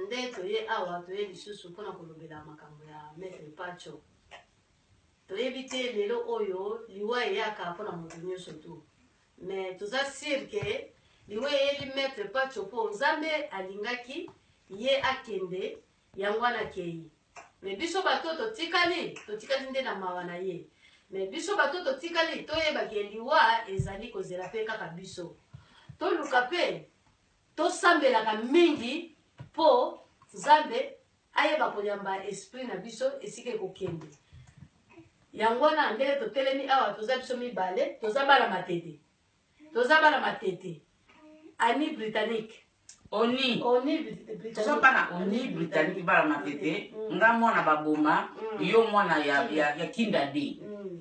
Nde toye awa, toye lisusu mpo na kolobela makambo ya Maitre Patsho. Toyebi te lelo oyo liwa eyaka mpo na moto nyonso tu, me toza sur ke liwa eyeli Maitre Patsho mpo Nzambe alingaki ye akende, yango wana akei. Me biso bato totikali, totikali nde na mawa na ye. Me biso bato totikali toyeba ke liwa ezali kozela mpe kaka biso. Toluka mpe Tosambelaka mingi mpo Nzambe ayeba koyamba esprit na biso esika ekokende. Yango wana ndenge totelemi awa, toza biso mibale, toza bana matete, toza bana matete, ani britannique oni toza bana oni britannique bana matete mm. nga mwana baboma mm. yo mwana ya, ya, ya kinda de mm.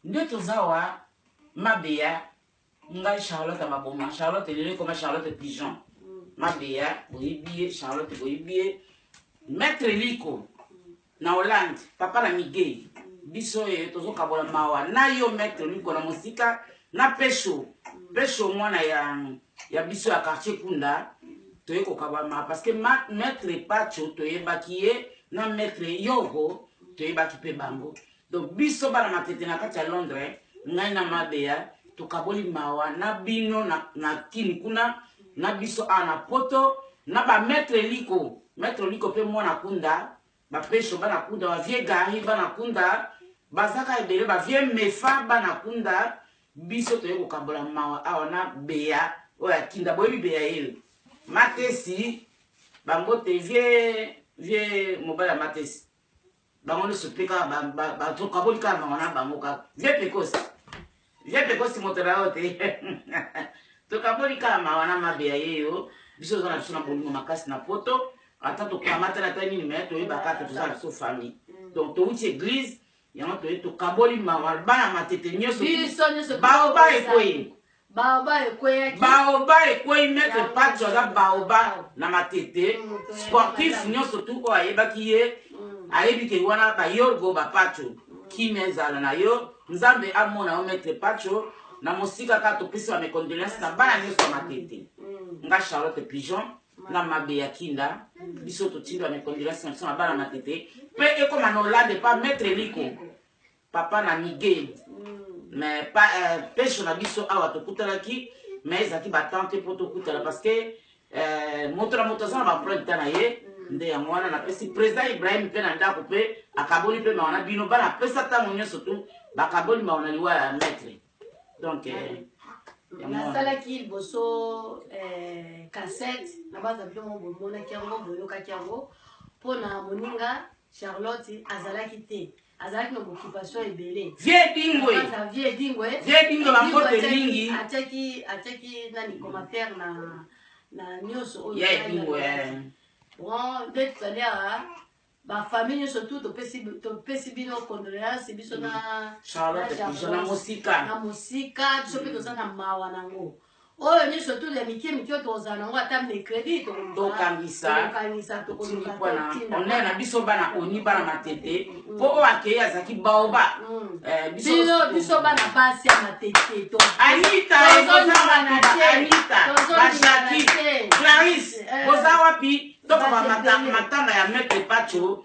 nde toza wa mabeya ngai charlotte ya maboma charlotte lelo ekoma charlotte pigeon mabeya boyebi ye charlotte boyebi ye maître liko na hollande papa na migei biso oyo tozokabola mawa na yo maître liko na mosika na pesho pesho mwana ya, ya biso ya quartier kunda toye kokabama parce que maître pacho toyebaki ye na maître yogo toyebaki mpe bango Donc biso bana matete na kati ya Londres ngai na ma bea tokaboli mawa na bino na na kin kuna na biso awa na poto na ba maitre liko maitre liko pe mwana kunda ba pesho bana kunda ba vieux gari bana kunda bazaka ebele ba vieux mefa bana kunda biso toye kokabola mawa awa na bea oyo akinda boyebi bea yele matesi bambote vieux vieux mobali ya matesi bango nyonso mpe kaka bakaboli kaka bango na bango kaka vie precoce vie precoce moto na yo te tokaboli kaka mawa na mabe ya ye yo biso oza na biso na bolingo makasi na poto ata tokamatana ata nini me toyeba kaka toza na biso famille mm. donc towuti église yango toye tokaboli mawa bana matete nyonso baoba ekoye Baoba ekweyaki. Baoba ekweyi maître Pacho aza baoba na matete. Mm, Sportif nyonso tu oyo ayebaki ye mm. ayebi ke wana ba Yorgo ba Pacho mm. kimia ezala na yo Nzambe amona yo maître Pacho na mosika ka topesi ba mes condoléances na bana nyonso ya matete. Mm. Nga Charlotte Pigeon na mabe ya kinda biso totindi ba mes condoléances na biso na bana matete pe ekoma na Hollande pa maître Liko. papa na migue mm. mais pa, euh, pesho na biso awa tokutanaki mais ezalaki batemp te mpo tokutana parce que euh, moto na moto aza na bapreuve ta na ye mm. nde yango wana napesi président ibrahim mpe na ndako mpe akaboli mpe mawa na bino bana apesa ntango nyonso tu bakaboli mawa na liwa ya maître donc euh, nasalaki liboso euh, cassette na baza bino mo bomonaki yango boyokaki yango mpo na moninga charlotte azalaki te azalaki na occupation ebele vie dingwe na vie dingwe vie dingwe ba mbote mingi ateki ateki nani commentaire na na nyoso oyo ya dingwe eh. bon nde tozali a ba famille nyoso tout topesi topesi bino condoléance biso na mm. charlotte na mosika na mosika biso mpe mm. toza na mawa nango mm. oyo nyonso tu ya mikie mikie oyo tokozala nango ata mercredi tokokangisa na biso bana oni bana matete mpo mm. oyo akei azalaki baoba mm. eh, biso bana basi ya matete anitaanitaashaki clarise eh. boza wapi tokoma matanga ya maitre pacho